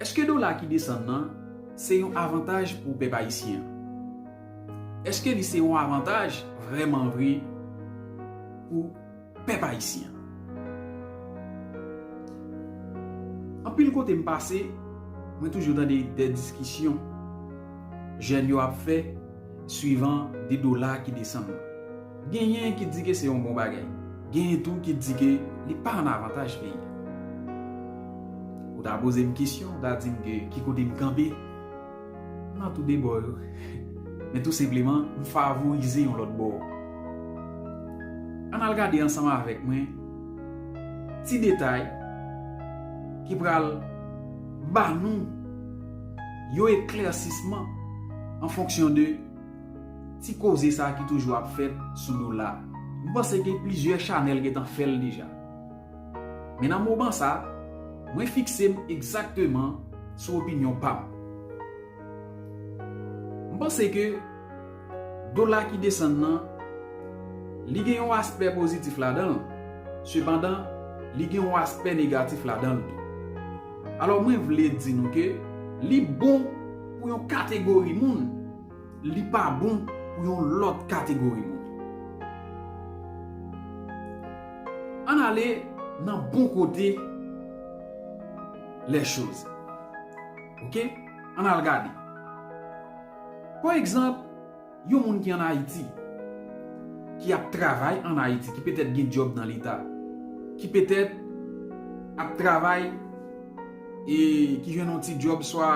Eske dola ki desann nan se yon avantaj pou pèp ayisyen an? Eske li se yon avantaj vrèman vre pou. pèp ayisyen. Anpil kote m pase, mwen toujou tande de diskisyon jèn yo ap fè swivan de dola ki desann nan. Genyen ki di ke se yon bon bagay, genyen tou ki di ke li pa an avantaj peyi a. Ou ta poze m kesyon, ou ta di m ke ki kote m kanpe? Nan tou de bò yo. Men tou senpleman, m favorize yon lòt bò. Ann al gade ansanm avèk mwen ti detay ki pral ba nou yon eklèsisman an fonksyon de ti koze sa ki toujou ap fèt sou dola. M panse gen plizyè chanèl gentan fè l deja. Men nan moman sa, mwen fikse m egzakteman sou opinyon pa m. M panse ke dola ki desann nan, li gen yon aspè pozitif ladan l, sepandan li gen yon aspè negatif ladan l tou. Alò mwen vle di nou ke li bon pou yon kategori moun, Li pa bon pou yon lòt kategori moun. Ann ale nan bon kote lè choz. Ok? Ann al gade. Pa egzanp, yon moun ki ann Ayiti, ki ap travay ann Ayiti, ki petèt gen djòb nan Leta, ki petèt ap travay e ki jwenn yon ti djòb swa.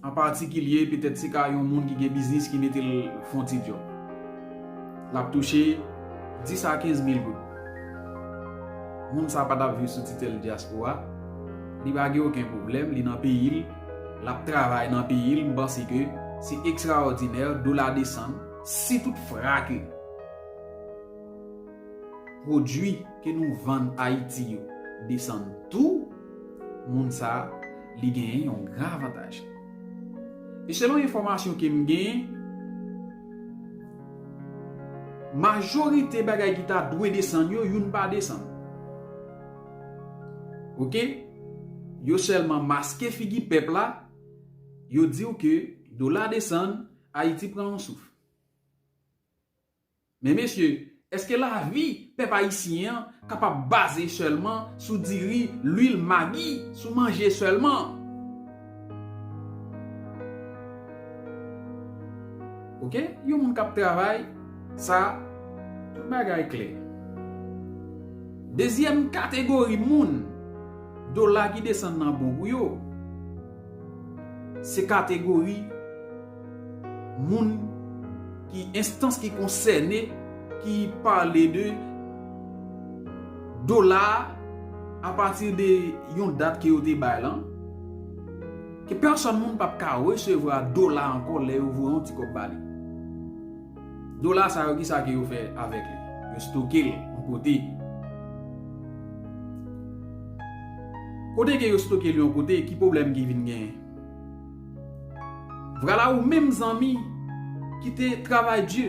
An patikilye, petèt se ka yon moun ki gen biznis ki mete l fon ti djòb. L ap touche 10 a 15 mil goud. Moun sa pa t ap viv sou titèl dyaspora, li pa gen oken pwoblèm, li nan peyi l, l ap travay nan peyi l, m panse ke se ekstraòdinè, dola desann. Si tout fra ke pwodui ke nou vann Ayiti yo desann tou. moun sa li genyen yon gran avantaj. E selon enfòmasyon ke m genyen, majorite bagay ki ta dwe desann yo, youn pa desann. Ok? Yo sèlman maske figi pèp la, yo di w ke dola desann, Ayiti pran yon souf. Men mesye, èske lavi pèp ayisyen an kapab baze sèlman sou diri, lwil, magi, sou manje sèlman? Ok, yon moun k ap travay, sa, tout bagay klè. Dezyèm kategori moun, dola ki desann nan bon pou yo. se kategori moun ki enstans ki konsène ki pale de dola a pati de yon dat ke yo te bay lan ke pèsòn moun pap ka resevwa dola ankò lè yo voye yon ti kòb ba li. Dola sa yo kisa ke yo fè avèk li? Yo stoke l yon kote. Kote ke yo stoke l yon kote, ki pwoblèm ki vin genyen? Vwala ou menm zanmi ki te travay di,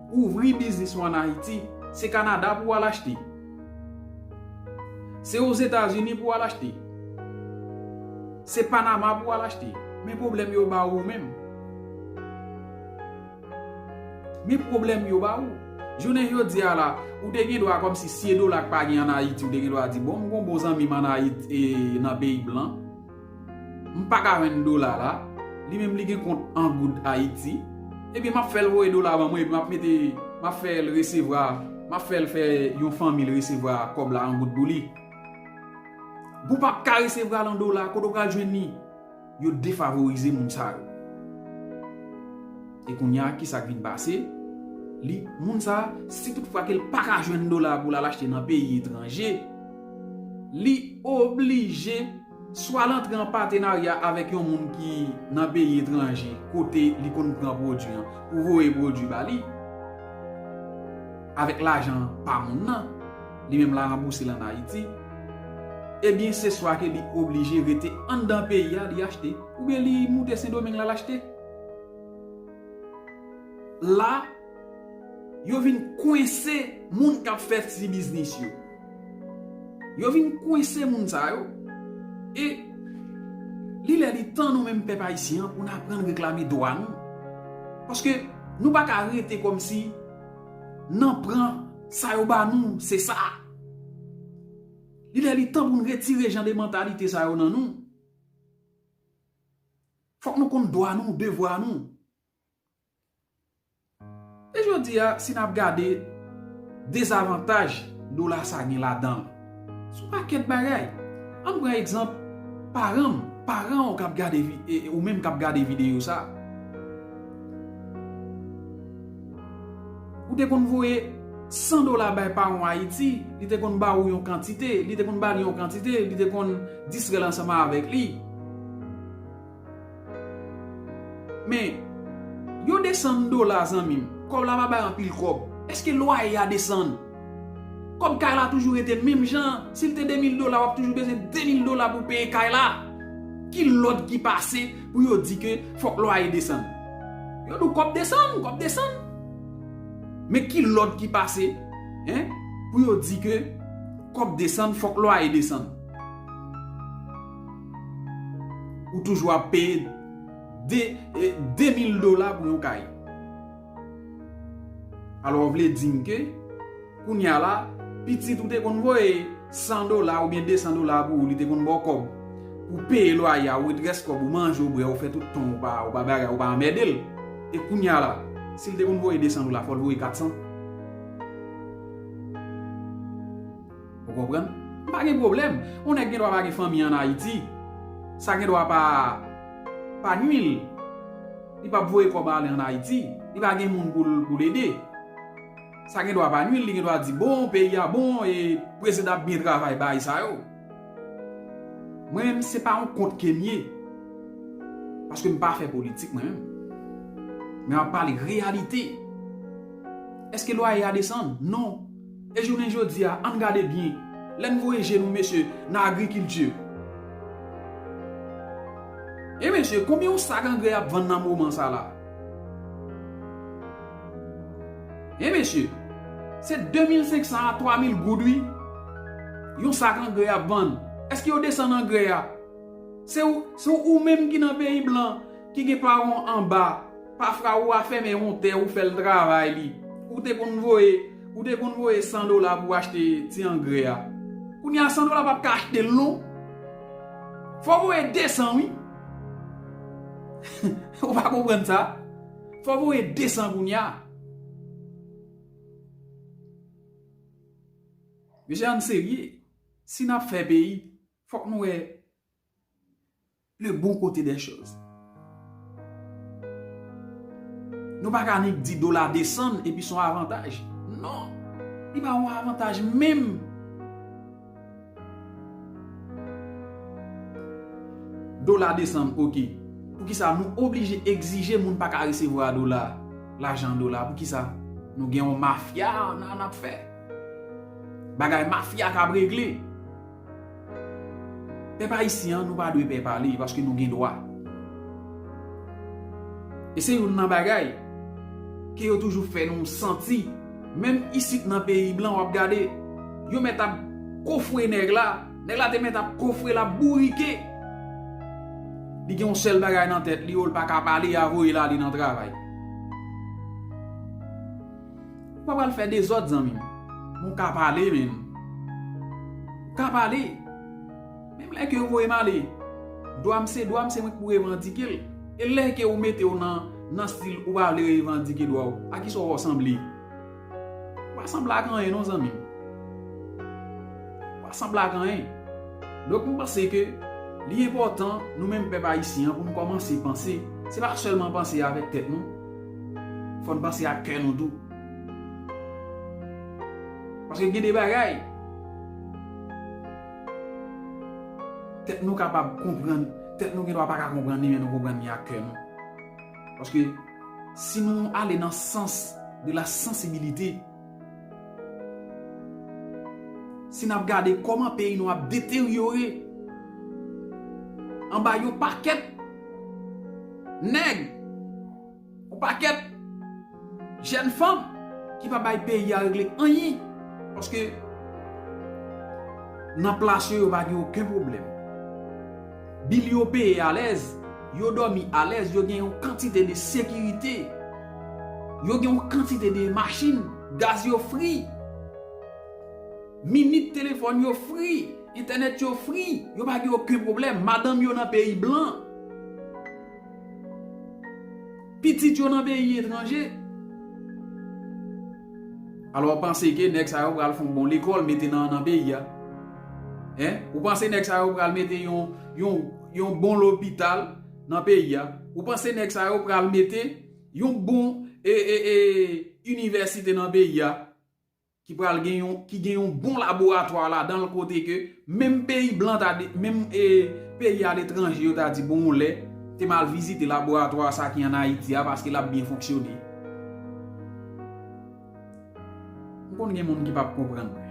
ouvri biznis ou an Ayiti, se Kanada pou w al achte. Se Ozetazini pou w al achte. Se Panama pou w al achte. Men pwoblèm yo ba ou menm. Men pwoblèm yo ba ou. Jounen jodi a la, ou te gen dwa kòmsi si e dola k pa gen an Ayiti, ou te gen dwa di bon m gon bon zanmi m an Ayiti e nan peyi blan, m pa ka jwenn dola la, li menm li gen kont an goud Ayiti, ebyen m ap fè l voye dola ban mwen epi m ap mete, m ap fè l resevwa, m ap fè l fè yon fanmi l resevwa kòb la an goud pou li. Pou w pa p ka resevwa l an dola, kote w pral jwenn li? Yo defavorize moun sa yo. E kounya ki sa k vin pase? Li, moun sa, si tout fwa ke l pa ka jwenn dola pou l al achte nan peyi etranje, li oblije swa l antre an patenarya avèk yon moun ki nan peyi etranje kote li konn pran pwodui an pou voye pwodui ba li avèk lajan pa moun nan. Li menm la ranbouse l an Ayiti. Ebyen se swa ke li oblije rete anndan peyi a li achte. Oubyen li moute Sendomeng l al achte. La, yo vin kwense moun k ap fè ti biznis yo. Yo vin kwense moun sa yo. E, li lè li tan nou menm pèp ayisyen an pou n aprann reklame dwa nou. Paske, nou pa ka rete kòmsi. Nan pran sa yo ba nou se sa. Li lè li tan pou nou retire jan de mantalite sa yo nan nou. Fòk nou konn dwa nou, devwa nou. E jodi a si nap gade dezavantaj dola sa gen ladanl. Sou pakèt bagay. Ann pran egzanp paran m, paran w kap gade ou menm kap gade videyo sa. Ou te konn voye 100 dola bay paran w Ayiti, li te konn ba ou yon kantite, li te konn ba li yon kantite, li te konn distrè l ansanm avèk li. Men Yo desann dola zanmim. Kòb la pa bay anpil kòb. Eske lwaye ya desann? Kòb kay la toujou rete menm jan an. Sil te 2000 dola wap toujou bezwen 2000 dola pou peye kay la. Ki lòd ki pase pou yo di ke fòk lwaye desann? Yo di w kòb desann, kòb desann. Men ki lòd ki pase hein pou yo di ke kòb desann fòk lwaye desann? Ou toujou ap peye 2000 dola pou yon kay. Alò ou vle di m ke kounya la pitit ou te konn voye 100 dola oubyen 200 dola pou ou li te konn ba w kòb pou w peye lwaye a ou ret rès kòb ou manje ou bwè ou fè tout tan ou pa bagay ou pa anmède l e kounya la si l te konn voye 200 dola fò l voye 400. Ou konprann? M pa gen pwoblèm. On nèg gen dwa pa gen fanmi an Ayiti. Sa gen dwa pa pa nwi l. Li pap voye kòb ale an Ayiti. Li pa gen moun pou l ede. Sa gen dwa pa nwi l. Li gen dwa di bon, peyi a bon e prezidan ap byen travay bay sa yo. Mwen menm se pa on kont ke m ye. Paske m pa fè politik mwen menm. Men m ap pale reyalite. Eske lwaye a desann? Non. E jounen jodi a, ann gade byen, lè n voye je nou, mesye, nan agrikilti. E mesye, konbyen yon sak angrè ap vann nan moman sa la? E mesye, se 2500 a 3000 goud wi, yon sak angrè ap vann. Eske yo desann angrè a? Se ou menm ki nan peyi blan, ki gen paran w anba pafra ou a fèmen yon tè ou fèl travay li ou te konn voye ou te konn voye 100 dola pou achte ti angrè a kounye a 100 dola pap ka achtel non fò voye 200 wi ou pa konprann sa fò voye 200 kounye a mesye ann serye si nap fè peyi fòk nou wè. Le bon kote dè choz. Nou pa ka annik di dola desann epi son avantaj. Non. Li pa yon avantaj menm. Dola desann ok. Pou ki sa nou oblije egzije moun pa ka resevwa dola. Lajan dola pou ki sa. Nou gen yon mafya nan nap fè. Bagay mafya kab regle. Pèp ayisyen an nou pa dwe pè pale paske nou gen dwa. E se youn nan bagay ke yo toujou fè nou santi menm isit nan peyi blan wap gade yo mèt ap kofre nèg la, nèg la te mèt ap kofre lap bourike li gen yon sèl bagay nan tèt li oh li paka pale ya voyel ale nan travay. Ou pa pral fè dezòd zanmim. Bon ka pale menn. Ou ka pale. Menm lè ke yo voyem ale. Dwam se dwam se mwen ki pou revandikel. E lè ke ou metew nan nan stil ou pa vle revandike dwaw. A kisa ou va sanble? Ou pa sanble ak anyen non zanmim. Ou pa sanble ak anyen. Donk mwen panse ke li enpòtan nou menm pèp ayisyen an pou nou kòmanse panse. Se pa sèlman panse avèk tèt nou. Fò n panse ak kè nou tou. Paske gen de bagay. Tèt nou kapab konprann. Tèt nou gen dwa pa ka konprann li men nou konprann li ak kè nou. Paske si nou ale nan sans de la sansibilite. Si n ap gade kòman peyi nou ap deteryore anba yon pakèt nèg, yon pakèt jèn fanm ki pa bay peyi a regle anyen paske nan plas yo yo pa gen oken pwoblèm. Bil yo peye alèz, yo dòmi alèz, yo gen yon kantite de sekirite, yo gen yon kantite de machin, gaz yo fri, minit telefòn yo fri, entènèt yo fri, yo pa gen oken pwoblèm, madanm yo nan peyi blan. Pitit yo nan peyi etranje. Alò panse ke nèg sa yo pral fon bon lekòl mete nan nan peyi a. Hein? Ou panse nèg sa yo pral mete yon yon yon bon lopital nan peyi a? Ou panse nèg sa yo pral mete yon bon e e e inivèsite nan peyi a? ki pral gen yon ki gen yon bon laboratwa ladan l kote ke menm peyi blan ta menm peyi aletranje yo ta di bon yon lè te m al vizite laboratwa sa ki an Ayiti a paske l ap byen fonksyone m konn gen moun ki p ap konprann mwen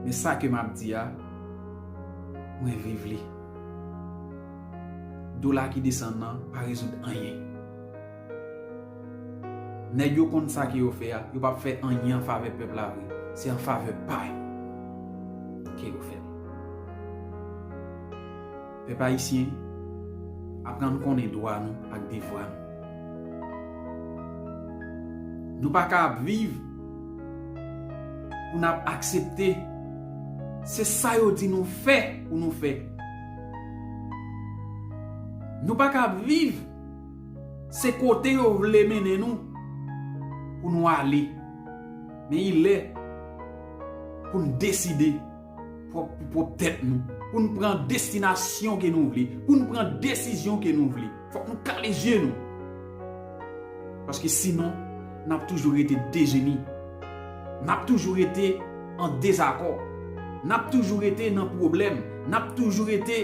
men sa ke m ap di a mwen viv li dola ki desann nan pa rezoud anyen. Nèg yo konn sa ke yo fè a, yo pap fè anyen an favè pèp la vre, se an favè pa yo ke yo fèl. Pèp ayisyen, aprann konnen dwa nou ak devwa nou. Nou pa ka ap viv pou nap aksepte se sa yo di nou fè pou nou fè. Nou pa ka ap viv. Se kote yo vle mennen nou pou nou ale. Men ilè pou n deside pou pwòp tèt nou. Pou n pran destinasyon ke nou vle. Pou n pran desizyon ke nou vle. Fòk nou kale zye nou. Paske sinon, n ap toujou rete dejeni. N ap toujou rete an dezakò. N ap toujou rete nan pwoblèm. N ap toujou rete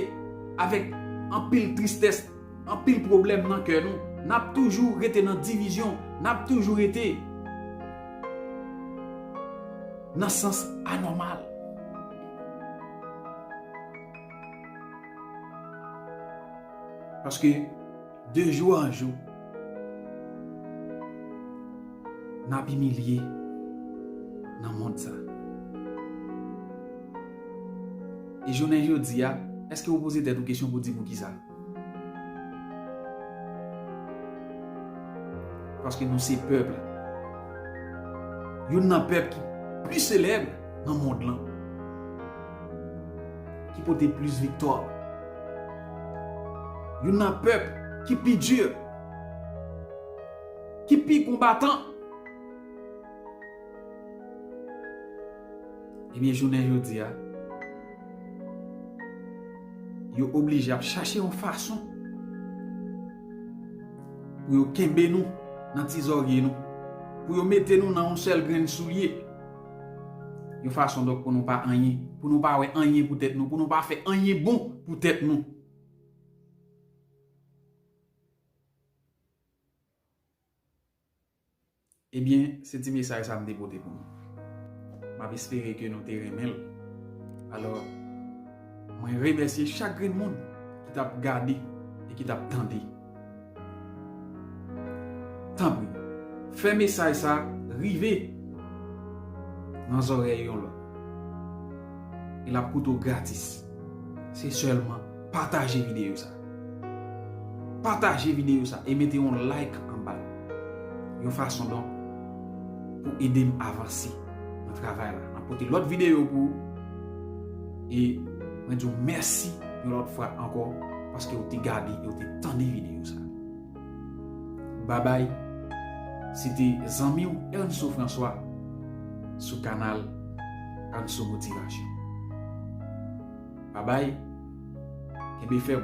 avèk anpil tristès. Anpil pwoblèm nan kè nou. N ap toujou rete nan divizyon. N ap toujou rete nan sans anòmal. Paske de jou an jou, n ap imilye nan mond sa. E jounen jodi a, èske ou poze tèt ou kesyon pou di poukisa? Paske nou se pèp la. Youn nan pèp ki pli selèb nan mond lan. Ki pote plis viktwa. Youn nan pèp ki pi dur. Ki pi konbatan. Ebyen jounen jodi a, yo oblije ap chache yon fason pou yo kenbe nou nan ti zòrye nou, pou yo mete nou nan yon sèl grenn soulye, yon fason donk pou nou pa anyen, pou nou pa wè anyen pou tèt nou, pou nou pa fè anyen bon pou tèt nou. Ebyen se ti mesaj sa m te pote pou nou. M ap espere ke nou te renmen l. Alò, mwen remèsye chak grenn moun ki t ap gade e ki t ap tande. Tanpri, fè mesaj sa rive nan zòrèy yon lòt. E l ap koute w gratis. Se sèlman. Pataje videyo sa. Pataje videyo sa e mete yon like anba l. Yon fason donk pou ede m avanse nan travay la. Map pote lòt videyo pou ou. E mwen di w mèsi yon lòt fwa ankò paske ou te gade e ou te tande videyo sa. Babay, se te zanmi w Ernso François sou kanal Ernso Motivation. Bye bye kenbe fèm.